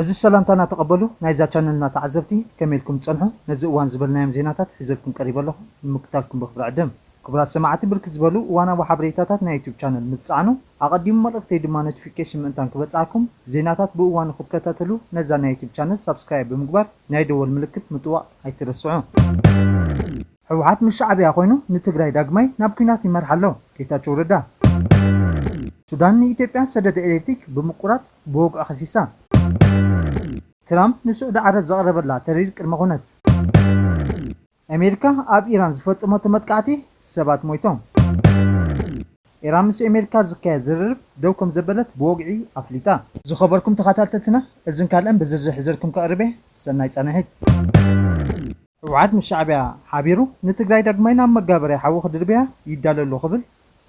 ዕዙዝ ሰላምታና ተቐበሉ ናይዛ ቻነልና ተዓዘብቲ ከመይ ኢልኩም ትጸንሑ ነዚ እዋን ዝበልናዮም ዜናታት ሒዘልኩም ቀሪበ ኣለኹ ንምክታልኩም ብኽብሪ ዕድም። ክቡራት ሰማዕቲ ብርክት ዝበሉ እዋናዊ ሓበሬታታት ናይ ዩቱብ ቻነል ምስ ትጸዕኑ ኣቐዲሙ መልእኽተይ ድማ ኖቲፊኬሽን ምእንታን ክበጽሓኩም ዜናታት ብእዋኑ ክትከታተሉ ነዛ ናይ ዩቱብ ቻነል ሳብስክራይብ ብምግባር ናይ ደወል ምልክት ምጥዋቕ ኣይትረስዑ። ሕውሓት ምስ ሻዕብያ ኮይኑ ንትግራይ ዳግማይ ናብ ኩናት ይመርሓ ኣሎ ጌታቸው ረዳ። ሱዳን ንኢትዮጵያ ሰደድ ኤሌክትሪክ ብምቁራፅ ብወግዒ ከሲሳ። ትራምፕ ንስዑዲ ዓረብ ዘቕረበላ ተሪር ቅድመ ኩነት። ኣሜሪካ ኣብ ኢራን ዝፈፀመቶ መጥቃዕቲ ሰባት ሞይቶም። ኢራን ምስ ኤሜሪካ ዝካየድ ዝርርብ ደው ከምዘበለት ብወግዒ ኣፍሊጣ። ዝኸበርኩም ተኻታተልትና እዝን ካልእን ብዝርዝር ሕዘልኩም ከቕርብ እየ ሰናይ ፃንሒት። ህወሓት ምስ ሻዕቢያ ሓቢሩ ንትግራይ ዳግማይ ናብ መጋበርያ ሓዊ ክድርብያ ይዳሎ ኣሎ ክብል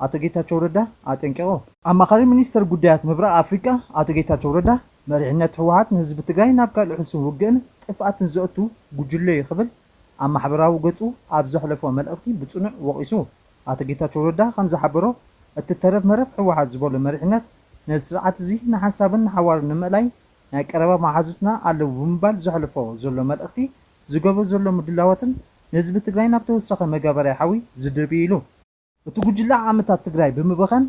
ኣቶ ጌታቸው ረዳ ኣጠንቂቑ። ኣማኻሪ ሚኒስተር ጉዳያት ምብራቕ ኣፍሪቃ ኣቶ ጌታቸው ረዳ መሪሕነት ህወሓት ንህዝቢ ትግራይ ናብ ካልእ ሕሱም ውግእን ጥፍኣትን ዘእቱ ጉጅለ እዩ ክብል ኣብ ማሕበራዊ ገፁ ኣብ ዘሕለፎ መልእኽቲ ብፅኑዕ ወቒሱ። ኣቶ ጌታቸው ረዳ ከምዝሓበሮ እቲ ተረፍ መረፍ ህወሓት ዝበሎ መሪሕነት ነዚ ስርዓት እዚ ንሓንሳብን ንሓዋሩን ንምእላይ ናይ ቀረባ መሓዙትና ኣለው ብምባል ዘሕልፎ ዘሎ መልእኽቲ ዝገብሮ ዘሎ ምድላዋትን ንህዝቢ ትግራይ ናብ ተወሳኺ መጋበርያ ሓዊ ዝድርቢ ኢሉ። እቲ ጉጅለ ዓመታት ትግራይ ብምበኸን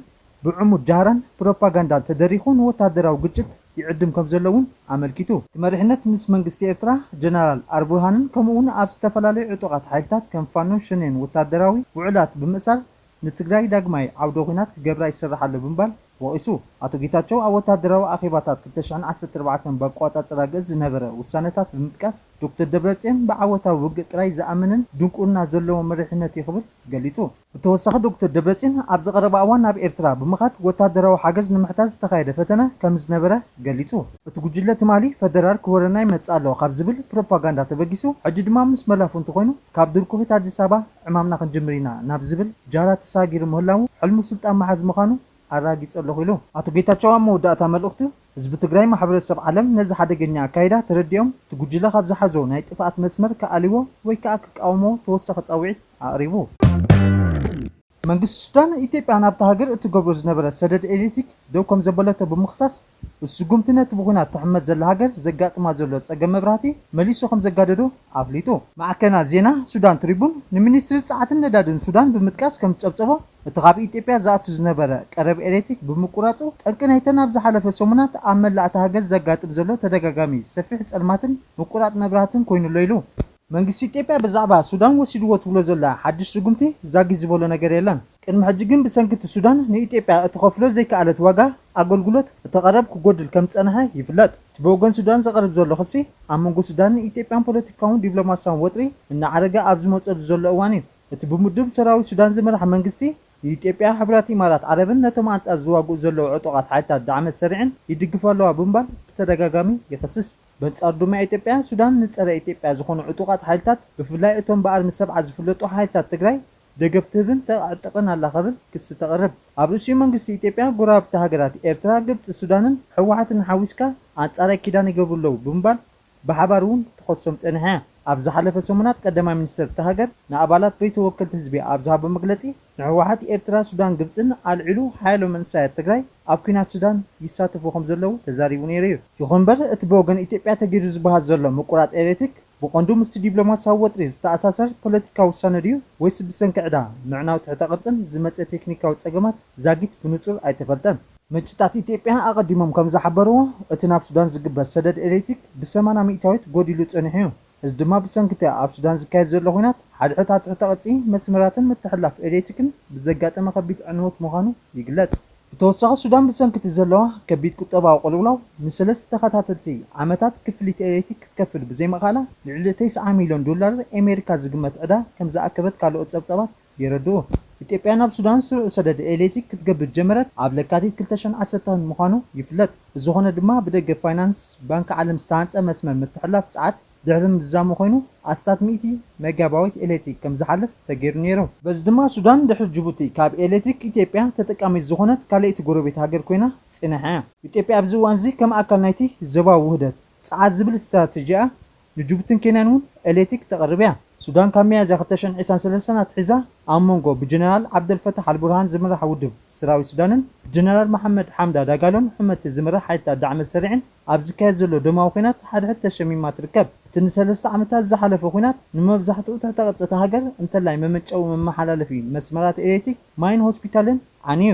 ብዕሙት ጃህራን ፕሮፓጋንዳን ተደሪኹ ንወታደራዊ ግጭት ይዕድም ከምዘሎ እውን ኣመልኪቱ። እቲ መሪሕነት ምስ መንግስቲ ኤርትራ፣ ጀነራል ኣርቡርሃንን ከምኡ'ውን ኣብ ዝተፈላለዩ ዕጡቓት ሓይልታት ከም ፋኖን ሸኔን ወተሃደራዊ ውዑላት ብምእሳር ንትግራይ ዳግማይ ዓውደ ኹናት ክገብራ ይሰርሕ ኣሎ ብምባል ወቒሱ። ኣቶ ጌታቸው ኣብ ወተሃደራዊ ኣኼባታት ክልተ ሽሕን ዓሰርተ ኣርባዕተን ብኣቆጻጽራ ግእዝ ዝነበረ ውሳነታት ብምጥቃስ ዶክተር ደብረጽዮን ብዓወታዊ ውግእ ጥራይ ዝኣምንን ድንቁርና ዘለዎ መሪሕነት እዩ ክብል ገሊጹ። ብተወሳኺ ዶክተር ደብረፅዮን ኣብዚ ቀረባ እዋን ናብ ኤርትራ ብምኻድ ወታደራዊ ሓገዝ ንምሕታት ዝተኻየደ ፈተነ ከምዝነበረ ገሊፁ። እቲ ጉጅለ ትማሊ ፈደራል ክወረና ይመፅእ ኣሎ ካብ ዝብል ፕሮፓጋንዳ ተበጊሱ ሕጂ ድማ ምስ መላፍንቱ ኮይኑ ካብ ድርኩኺት ኣዲስ ኣበባ ዕማምና ክንጅምር ኢና ናብ ዝብል ጃህራ ተሰጋጊሩ ምህላዉ ሕልሙ ስልጣን ምሓዝ ምኻኑ ኣረጋጊፀ ኣለኹ ኢሉ። ኣቶ ጌታቸው ኣብ መወዳእታ መልእኽቱ ህዝቢ ትግራይ ማሕበረሰብ ዓለም ነዚ ሓደገኛ ኣካይዳ ተረዲኦም እቲ ጉጅለ ካብ ዝሓዞ ናይ ጥፍኣት መስመር ክኣልይዎ ወይ ክኣ ክቃወምዎ ተወሳኺ ፃዊዒት ኣቕሪቡ። መንግስቲ ሱዳን ኢትዮጵያ ናብታ ሃገር እትገብሮ ዝነበረት ሰደድ ኤሌክትሪክ ደው ከምዘበለቶ ብምኽሳስ እዚ ስጉምቲ ነቲ ብኹናት ትሕመስ ዘላ ሃገር ዘጋጥማ ዘሎ ፀገም መብራህቲ መሊሱ ከምዘጋደዶ ኣፍሊጡ። ማዕከናት ዜና ሱዳን ትሪቡን ንሚኒስትሪ ፃዓትን ነዳድን ሱዳን ብምጥቃስ ከምዝፀብፀቦ፣ እቲ ካብ ኢትዮጵያ ዝኣቱ ዝነበረ ቀረብ ኤሌትሪክ ብምቁራፁ ጠንቂ ናይተን ኣብ ዝሓለፈ ሰሙናት ኣብ መላእ እታ ሃገር ዘጋጥም ዘሎ ተደጋጋሚ ሰፊሕ ፀልማትን ምቁራፅ መብራህትን ኮይኑ'ሎ ኢሉ። መንግስቲ ኢትዮጵያ ብዛዕባ ሱዳን ወሲድዎ ትብሎ ዘላ ሓዱሽ ስጉምቲ ዛጊት ዝበሎ ነገር የለን። ቅድሚ ሕጂ ግን ብሰንኪ እቲ ሱዳን ንኢትዮጵያ እትኸፍሎ ዘይከኣለት ዋጋ ኣገልግሎት እቲ ቀረብ ክጎድል ከም ዝፀንሐ ይፍለጥ። እቲ ብወገን ሱዳን ዝቐርብ ዘሎ ክሲ ኣብ መንጎ ሱዳንን ኢትዮጵያን ፖለቲካውን ዲፕሎማሲያውን ወጥሪ እናዓረገ ኣብ ዝመፀሉ ዘሎ እዋን እዩ። እቲ ብምዱብ ሰራዊት ሱዳን ዝምራሕ መንግስቲ፣ ኢትዮጵያ፣ ሕቡራት ኢማራት ዓረብን ነቶም ኣንጻር ዝዋግኡ ዘለዉ ዕጡቓት ሓይልታት ዳዕመ ሰሪዕን ይድግፉ ኣለዋ ብምባል ብተደጋጋሚ ይኸስስ። በንጻሩ ድማ ኢትዮጵያ፣ ሱዳን ንጸረ ኢትዮጵያ ዝኾኑ ዕጡቓት ሓይልታት ብፍላይ እቶም ብኣርሚ ሰብዓ ዝፍለጡ ሓይልታት ትግራይ ደገፍ ትህብን ተዕጥቕን ኣላ ከብል ክሲ ተቕርብ። ኣብ ርእሲኡ መንግስቲ ኢትዮጵያ ጎረባብቲ ሃገራት ኤርትራ፣ ግብጺ፣ ሱዳንን ህወሓትን ሓዊስካ ኣንጻረይ ኪዳን ይገብሩ ኣለዉ ብምባል ብሓባር እውን ትኸሶም ፀኒሓ እያ። ኣብ ዝሓለፈ ሰሙናት ቀዳማይ ሚኒስትር እታ ሃገር ንኣባላት በይቶ ወከልቲ ህዝቢ ኣብ ዝሃቦ መግለፂ ንህወሓት ኤርትራ፣ ሱዳን ግብፅን ኣልዒሉ ሓያሎ መንእሰያት ትግራይ ኣብ ኲናት ሱዳን ይሳተፉ ከምዘለዉ ተዛሪቡ ነይሩ እዩ። ይኹን እምበር እቲ ብወገን ኢትዮጵያ ተገይሩ ዝበሃል ዘሎ ምቁራፅ ኤሌክትሪክ ብቐንዱ ምስቲ ዲፕሎማሲያዊ ወጥሪ ዝተኣሳሰር ፖለቲካዊ ውሳነ ድዩ ወይስ ብሰንኪ ዕዳ፣ ምዕናው ትሕተ ቅርፅን ዝመፀ ቴክኒካዊ ፀገማት ዛጊት ብንፁር ኣይተፈልጠን። ምንጭታት ኢትዮጵያ ኣቐዲሞም ከምዝሓበርዎ፣ እቲ ናብ ሱዳን ዝግበር ሰደድ ኤሌክትሪክ ብሰማና ሚእታዊት ጎዲሉ ጸኒሑ እዩ። እዚ ድማ ብሰንኪ'ቲ ኣብ ሱዳን ዝካየድ ዘሎ ኹናት፣ ሓድሕድ ኣብ ትሕተ ቅርጺ መስመራትን ምትሕልላፍ ኤሌክትሪክን ብዘጋጠመ ከቢድ ዕንወት ምዃኑ ይግለጽ። ብተወሳኺ ሱዳን ብሰንኪ'ቲ ዘለዋ ከቢድ ቁጠባዊ ቅልውላው ንሰለስተ ተኸታተልቲ ዓመታት ክፍሊት ኤሌክትሪክ ክትከፍል ብዘይምኽኣላ፣ ልዕሊ ተስዓ ሚልዮን ዶላር ኤሜሪካ ዝግመት ዕዳ ከምዝኣከበት ካልኦት ጸብጻባት የረድኡ። ኢትዮጵያ ናብ ሱዳን ስሩዕ ሰደድ ኤሌትሪክ ክትገብር ዝጀመረት ኣብ ለካቲት ክልተ ሽሕን ዓሰርተን ምዃኑ ይፍለጥ። ብዝኾነ ድማ ብደገፍ ፋይናንስ ባንኪ ዓለም ዝተሃንፀ መስመር ምትሕልላፍ ፀዓት ድሕሪ ምዝዛሙ ኮይኑ ኣስታት ሚእቲ ሜጋባይት ኤሌትሪክ ከምዝሓልፍ ተገይሩ ነይሩ። በዚ ድማ ሱዳን ድሕሪ ጅቡቲ ካብ ኤሌትሪክ ኢትዮጵያ ተጠቃሚት ዝኾነት ካልኣይቲ ጎረቤት ሃገር ኮይና ፀኒሓ እያ። ኢትዮጵያ ኣብዚ እዋን እዚ ከም ኣካል ናይቲ ዞባዊ ውህደት ፀዓት ዝብል ስትራቴጂኣ ንጁቡቲን ኬንያን እውን ኤሌትሪክ ተቕርብ እያ። ሱዳን ካብ ሚያዝያ ክልተ ሽሕን ዒስራን ሰለስተን ኣትሒዛ ኣብ መንጎ ብጀነራል ዓብደል ፈታሕ ኣልቡርሃን ዝምራሕ ውድብ ስራዊት ሱዳንን ብጀነራል መሓመድ ሓምዳ ዳጋሎን ሕመቲ ዝምራሕ ሓይልታት ዳዕመ ሰሪዕን ኣብ ዝካየድ ዘሎ ደማዊ ኲናት ሓድሕድ ተሸሚማ ትርከብ። እቲ ንሰለስተ ዓመታት ዝሓለፈ ኲናት ንመብዛሕትኡ ትሕተ ቅርጺ እታ ሃገር እንተላይ መመንጨዊ መመሓላለፊ መስመራት ኤሌትሪክ፣ ማይን ሆስፒታልን ዓንዩ።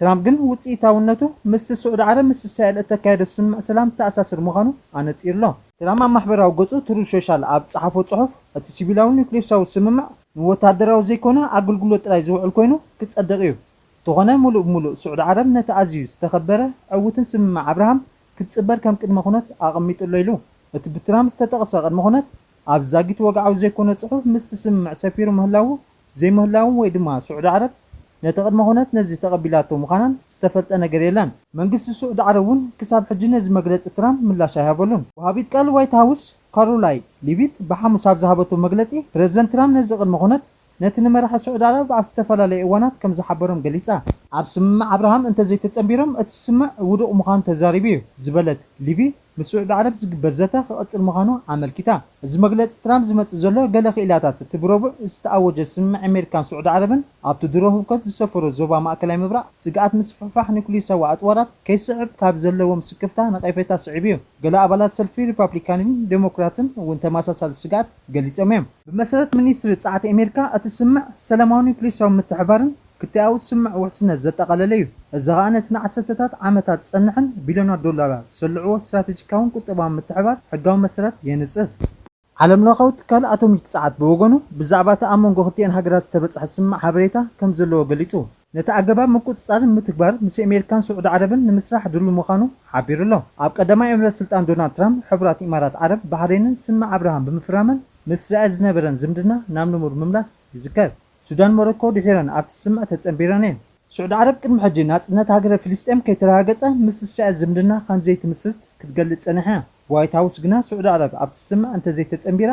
ትራምፕ ግን ውጽኢታውነቱ ምስ ስዑዲ ዓረብ ምስ እስራኤል እተካየዶ ስምምዕ ሰላም ዝተኣሳሰር ምዃኑ ኣነጺሩ'ሎ። ትራምፕ ኣብ ማሕበራዊ ገጹ ትሩዝ ሾሻል ኣብ ዝጸሓፎ ጽሑፍ፣ እቲ ሲቪላዊ ኑክልየሳዊ ስምምዕ ንወተሃደራዊ ዘይኮነ ኣገልግሎት ጥራይ ዝውዕል ኮይኑ ክጸድቕ'ዩ፣ እንተኾነ ምሉእ ብምሉእ ስዑዲ ዓረብ ነቲ ኣዝዩ ዝተኸበረ ዕዉትን ስምምዕ ኣብርሃም ክትጽበር ከም ቅድመ ኩነት ኣቐሚጡ'ሎ ኢሉ። እቲ ብትራምፕ ዝተጠቕሰ ቅድመ ኩነት፣ ኣብዚ ዛጊት ወግዓዊ ዘይኮነ ጽሑፍ ምስቲ ስምምዕ ሰፊሩ ምህላዉ ዘይምህላዉን ወይ ድማ ስዑዲ ዓረብ ነቲ ቅድመ ኩነት ነዚ ተቐቢላቶ ምዃናን ዝተፈልጠ ነገር የለን። መንግስቲ ስዑዲ ዓረብ እውን ክሳብ ሕጂ ነዚ መግለጺ ትራምፕ ምላሽ ኣይሃበሉን። ወሃቢት ቃል ዋይት ሃውስ ካሮላይ ሊቪት ብሓሙስ ኣብ ዝሃበቶ መግለጺ፣ ፕረዚደንት ትራምፕ ነዚ ቅድመ ኩነት ነቲ ንመራሒ ስዑዲ ዓረብ ኣብ ዝተፈላለየ እዋናት ከም ዝሓበሮም ገሊጻ። ኣብ ስምምዕ ኣብርሃም እንተዘይተጸንቢሮም እቲ ስምምዕ ውዱቕ ምዃኑ ተዛሪቡ'ዩ ዝበለት ሊቪት፣ ምስ ስዑዲ ዓረብ ዝግበር ዘተ ክቕጽል ምዃኑ ኣመልኪታ። እዚ መግለጺ ትራምፕ ዝመጽእ ዘሎ፣ ገለ ክኢላታት እቲ ብረቡዕ ዝተኣወጀ ስምምዕ ኣሜሪካን ስዑዲ ዓረብን ኣብቲ ድሮ ህውከት ዝሰፈሮ ዞባ ማእከላይ ምብራቕ ስግኣት ምስፍሕፋሕ ኑክልየሳዊ ኣጽዋራት ከይስዕብ ካብ ዘለዎም ስክፍታ ነቐፌታ ስዒቡ'ዩ። ገለ ኣባላት ሰልፊ ሪፓብሊካንን ደሞክራትን እውን ተመሳሳሊ ስግኣት ገሊጾም'ዮም። ብመሰረት ሚኒስትሪ ጸዓት ኣሜሪካ፣ እቲ ስምምዕ ሰላማዊ ኑክልየሳዊ ምትሕብባርን ክታያዊ ስምዕ ውሕስነት ዘጠቓለለ እዩ፣ እዚ ኸኣ ነቲ ንዓሰርተታት ዓመታት ዝጸንሐን ቢልዮናት ዶላራት ዝሰልዕዎ ስትራተጂካውን ቁጠባውን ምትሕብባር ሕጋዊ መሰረት የንጽፍ። ዓለምለኻዊ ትካል ኣቶሚክ ጸዓት ብወገኑ፣ ብዛዕባ እቲ ኣብ መንጎ ክልቲኤን ሃገራት ዝተበጽሐ ስምምዕ ሓበሬታ ከም ዘለዎ ገሊጹ፣ ነቲ ኣገባብ ምቁጽጻር ንምትግባር ምስ ኣሜሪካን ስዑዲ ዓረብን ንምስራሕ ድሉው ምዃኑ ሓቢሩ ኣሎ፣ ኣብ ቀዳማይ ዕምረ ስልጣን ዶናልድ ትራምፕ፣ ሕቡራት ኢማራት ዓረብ ባሕሬንን ስምምዕ ኣብርሃም ብምፍራመን ምስ እስራኤል ዝነበረን ዝምድና ናብ ንቡር ምምላስ ይዝከር። ሱዳን ሞሮኮ ድሒረን ኣብቲ ስምምዕ ተጸንቢረን እየን። ስዑዲ ዓረብ ቅድሚ ሕጂ ናጽነት ሃገረ ፍልስጤም ከይተረጋገጸ ምስ እስራኤል ዝምድና ከምዘይትምስርት ክትገልጽ ጸኒሓ እያ። ዋይት ሃውስ ግና ስዑዲ ዓረብ ኣብቲ ስምምዕ እንተዘይተጸንቢራ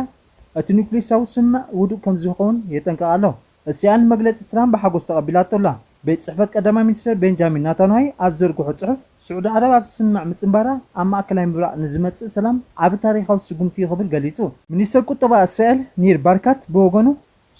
እቲ ኑክልየሳዊ ስምምዕ ውዱእ ከምዝኸውን የጠንቅቕ ኣሎ። እስራኤል ንመግለጺ ትራምፕ ብሓጎስ ተቐቢላቶ ኣላ። ቤት ጽሕፈት ቀዳማይ ሚኒስተር ቤንጃሚን ናታንዋይ ኣብ ዝዘርግሖ ጽሑፍ፣ ስዑዲ ዓረብ ኣብቲ ስምምዕ ምጽንባራ ኣብ ማእከላይ ምብራቕ ንዝመጽእ ሰላም ዓቢ ታሪኻዊ ስጉምቲ እዩ ክብል ገሊጹ። ሚኒስተር ቁጠባ እስራኤል ኒር ባርካት ብወገኑ፣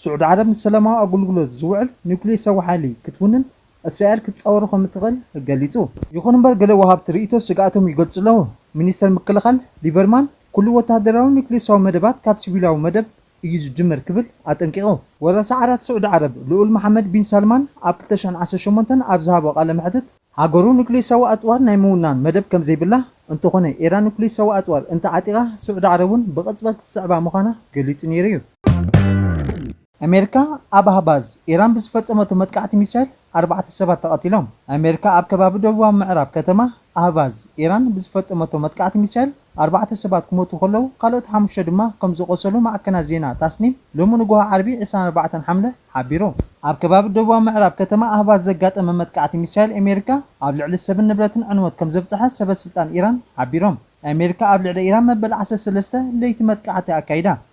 ስዑዲ ዓረብ ንሰላማዊ ኣገልግሎት ዝውዕል ኒውክሌር ሰው ሓይሊ ክትውንን እስራኤል ክትጻወሮ ከም እትኽእል ገሊጹ። ይኹን እምበር ገለ ወሃብቲ ርእይቶ ስግኣቶም ይገልጹ ኣለዉ። ሚኒስተር ምክልኻል ሊበርማን ኩሉ ወተሃደራዊ ኒውክሌሳዊ መደባት ካብ ሲቪላዊ መደብ እዩ ዝጅምር ክብል ኣጠንቂቑ። ወራሲ ዓራት ስዑዲ ዓረብ ልኡል መሓመድ ቢን ሳልማን ኣብ ክልተ ሽሕን ዓሰርተ ሸሞንተን ኣብ ዝሃቦ ቃለ መሕትት፣ ሃገሩ ኑክሌሳዊ ኣጽዋር ናይ ምውናን መደብ ከም ዘይብላ፣ እንተዀነ ኢራን ኑክሌሳዊ ኣጽዋር እንተ ዓጢቓ ስዑዲ ዓረብ እውን ብቕጽበት ክትስዕባ ምዃና ገሊጹ ነይሩ እዩ። ኣሜሪካ ኣብ ኣህባዝ፣ ኢራን ብዝፈጸመቶ መጥቃዕቲ ሚሳይል ኣርባዕተ ሰባት ተቐቲሎም። ኣሜሪካ ኣብ ከባቢ ደቡባዊ ምዕራብ ከተማ ኣህባዝ፣ ኢራን ብዝፈጸመቶ መጥቃዕቲ ሚሳይል ኣርባዕተ ሰባት ክሞቱ ከለዉ ካልኦት ሓሙሽተ ድማ ከም ዝቖሰሉ ማዕከናት ዜና ታስኒም ሎሚ ንጉሆ ዓርቢ ዕስራን ኣርባዕተን ሓምለ ሓቢሩ። ኣብ ከባቢ ደቡባዊ ምዕራብ ከተማ ኣህቫዝ ዘጋጠመ መጥቃዕቲ ሚሳይል ኣሜሪካ ኣብ ልዕሊ ሰብን ንብረትን ዕንወት ከም ዘብጽሐ ሰበስልጣን ኢራን ሓቢሮም። ኣሜሪካ ኣብ ልዕሊ ኢራን መበል ዓሰርተ ሰለስተ ለይቲ መጥቃዕቲ ኣካይዳ።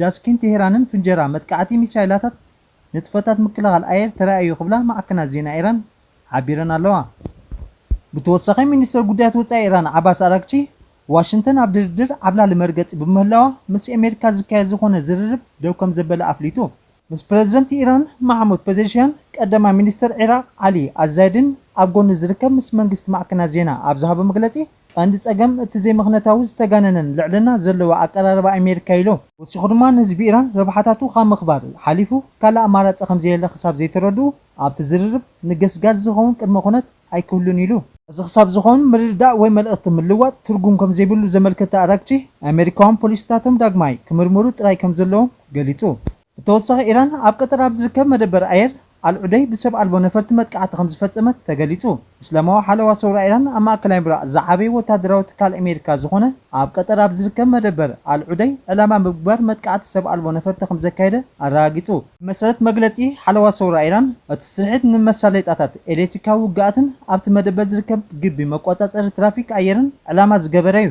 ጃስኪን ቴህራንን ፍንጀራ መጥቃዕቲ ሚሳይላታት ንጥፈታት ምክልኻል ኣየር ተራእዮ ክብላ ማዕከናት ዜና ኢራን ሓቢረን ኣለዋ። ብተወሳኺ ሚኒስተር ጉዳያት ወጻኢ ኢራን ዓባስ ኣራግቺ፣ ዋሽንተን ኣብ ድርድር ዓብላሊ መርገጺ ብምህላዋ ምስ ኤሜሪካ ዝካየድ ዝኾነ ዝርርብ ደው ከምዘበለ ኣፍሊጡ። ምስ ፕረዚደንት ኢራን ማሕሙድ ፐዘሽያን፣ ቀዳማይ ሚኒስተር ዒራቕ ዓሊ ኣልዛይድን ኣብ ጎኑ ዝርከብ ምስ መንግስቲ ማዕከናት ዜና ኣብ ዝሃቦ መግለጺ፣ ቀንዲ ጸገም እቲ ዘይምኽንያታዊ ዝተጋነነን ልዕልና ዘለዎ ኣቀራርባ ኣሜሪካ'ዩ ኢሉ። ወሲኹ ድማ ንህዝቢ ኢራን ረብሓታቱ ካብ ምኽባር ሓሊፉ ካልእ ኣማራጺ ከምዘየለ ክሳብ ዘይተረድኡ ኣብቲ ዝርርብ ንገስጋስ ዝኸውን ቅድመ ኩነት ኣይክህሉን ኢሉ። እዚ ክሳብ ዝኸውን ምርድዳእ ወይ መልእኽቲ ምልዋጥ ትርጉም ከምዘይብሉ ዘመልከተ ኣራግቺ፣ ኣሜሪካውያን ፖሊሲታቶም ዳግማይ ክምርምሩ ጥራይ ከምዘለዎም ገሊጹ። ብተወሳኺ ኢራን ኣብ ቀጠር ኣብ ዝርከብ መደበር ኣየር ኣልዑደይድ ብሰብ ኣልቦ ነፈርቲ መጥቃዕቲ ከምዝፈጸመት ተገሊጹ። እስላማዊ ሓለዋ ሰውራ ኢራን ኣብ ማእከላይ ምብራቕ ዝዓበየ ወተሃደራዊ ትካል ኣሜሪካ ዝኾነ ኣብ ቀጠር ኣብ ዝርከብ መደበር ኣልዑደይድ ዕላማ ብምግባር መጥቃዕቲ ሰብ ኣልቦ ነፈርቲ ከምዘካየደ ኣረጋጊጹ። ብመሰረት መግለጺ ሓለዋ ሰውራ ኢራን፣ እቲ ስርሒት ንመሳለይጣታት ኤሌክትሪካዊ ውግኣትን ኣብቲ መደበር ዝርከብ ግቢ መቆጻጸሪ ትራፊክ ኣየርን ዕላማ ዝገበረ'ዩ።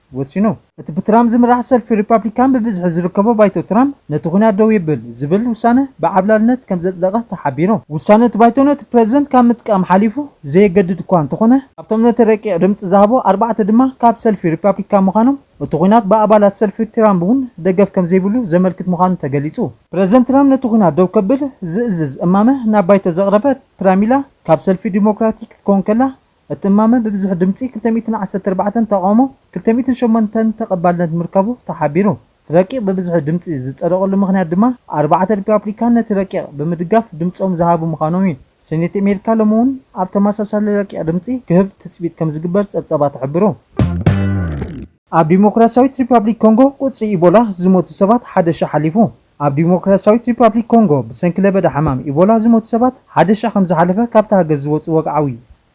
ወሲኑ። እቲ ብትራምፕ ዝምራሕ ሰልፊ ሪፓብሊካን ብብዝሒ ዝርከቦ ባይቶ ትራምፕ ነቲ ኲናት ደው የብል ዝብል ውሳነ ብዓብላልነት ከም ዘጽደቐ ተሓቢሩ። ውሳነ እቲ ባይቶ ነቲ ፕረዚደንት ካብ ምጥቃም ሓሊፉ ዘየገድድ እኳ እንተኾነ፣ ካብቶም ነቲ ረቂቕ ድምጺ ዝሃቡ ኣርባዕተ ድማ ካብ ሰልፊ ሪፓብሊካን ምዃኖም እቲ ኲናት ብኣባላት ሰልፊ ትራምፕ እውን ደገፍ ከም ዘይብሉ ዘመልክት ምዃኑ ተገሊጹ። ፕረዚደንት ትራምፕ ነቲ ኲናት ደው ከብል ዝእዝዝ እማመ ናብ ባይቶ ዘቕረበት ፕራሚላ ካብ ሰልፊ ዲሞክራቲክ ክትከውን ከላ እቲ እማመ ብብዝሒ ድምፂ ክልተ ሚእትን ዓሰርተ ኣርባዕተን ተቓውሞ ክልተ ሚእትን ሸሞንተን ተቐባልነት ምርካቡ ተሓቢሩ። እቲ ረቂቕ ብብዝሒ ድምፂ ዝፀደቐሉ ምኽንያት ድማ ኣርባዕተ ሪፓብሊካን ነቲ ረቂቕ ብምድጋፍ ድምፆም ዝሃቡ ምዃኖም እዩ። ሴኔት ኣሜሪካ ሎሚ እውን ኣብ ተመሳሳሊ ረቂቕ ድምፂ ክህብ ትፅቢት ከምዝግበር ፀብፃባት ይሕብሩ። ኣብ ዴሞክራሲያዊት ሪፓብሊክ ኮንጎ ቁፅሪ ኢቦላ ዝሞቱ ሰባት ሓደ ሽሕ ሓሊፉ። ኣብ ዲሞክራሲያዊት ሪፓብሊክ ኮንጎ ብሰንኪ ለበዳ ሕማም ኢቦላ ዝሞቱ ሰባት ሓደ ሽሕ ከምዝሓለፈ ካብታ ሃገር ዝወጽኡ ወግዓዊ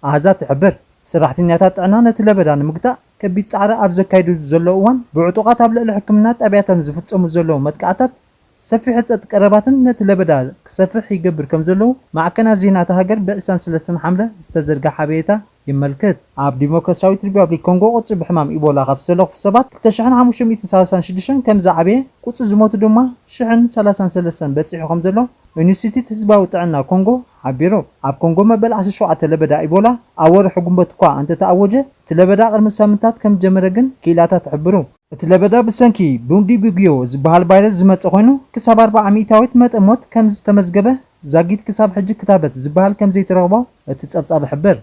ኣሃዛት ትሕብር። ሰራሕተኛታት ጥዕና ነቲ ለበዳ ንምግታእ ከቢድ ጻዕሪ ኣብ ዘካይድሉ ዘለዉ እዋን፣ ብዕጡቓት ኣብ ልዕሊ ሕክምና ጣብያታትን ዝፍጸሙ ዘለዉ መጥቃዕታት ሰፊሕ ህጸት ቀረባትን ነቲ ለበዳ ክሰፍሕ ይገብር ከምዘለዉ ማዕከናት ዜና እታ ሃገር ብ ዒስራን ሰለስተን ሓምለ ዝተዘርግሐ ሓበሬታ የመልክት። ኣብ ዲሞክራስያዊት ሪፓብሊክ ኮንጎ ቁጽሪ ብሕማም ኢቦላ ካብ ዝተለኽፉ ሰባት ክልተ ሽሕን ሓሙሽተ ሚእትን ሰላሳን ሽዱሽተን ከም ዝዓበየ፣ ቁጽሪ ዝሞቱ ድማ ሽሕን ሰላሳን ሰለስተን በጺሑ ከም ዘሎ ኢንስቲትዩት ህዝባዊ ጥዕና ኮንጎ ሓቢሩ። ኣብ ኮንጎ መበል ዓሰርተ ሸውዓተ ለበዳ ኢቦላ ኣብ ወርሒ ግንቦት'ኳ እንተተኣወጀ፣ እቲ ለበዳ ቅድሚ ሳምንታት ከም ዝጀመረ ግን ክኢላታት ይሕብሩ። እቲ ለበዳ ብሰንኪ ቡንዲቡግዮ ዝበሃል ቫይረስ ዝመጸ ኮይኑ፣ ክሳብ ኣርብዓ ሚእታዊት መጠን ሞት ከም ዝተመዝገበ፣ ዛጊት ክሳብ ሕጂ ክታበት ዝበሃል ከም ዘይተረኽቦ፣ እቲ ጸብጻብ ይሕብር።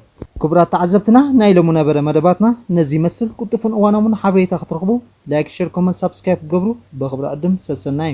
ክቡራት ተዓዘብትና ናይ ሎሚ ነበረ መደባትና ነዚ ይመስል ቁልጡፍን እዋናውን ሓበሬታ ክትረኽቡ ላይክ ሸር ኮመንት ሳብስክራይብ ክትገብሩ ብኽብሪ ዕድም ሰሰናዩ።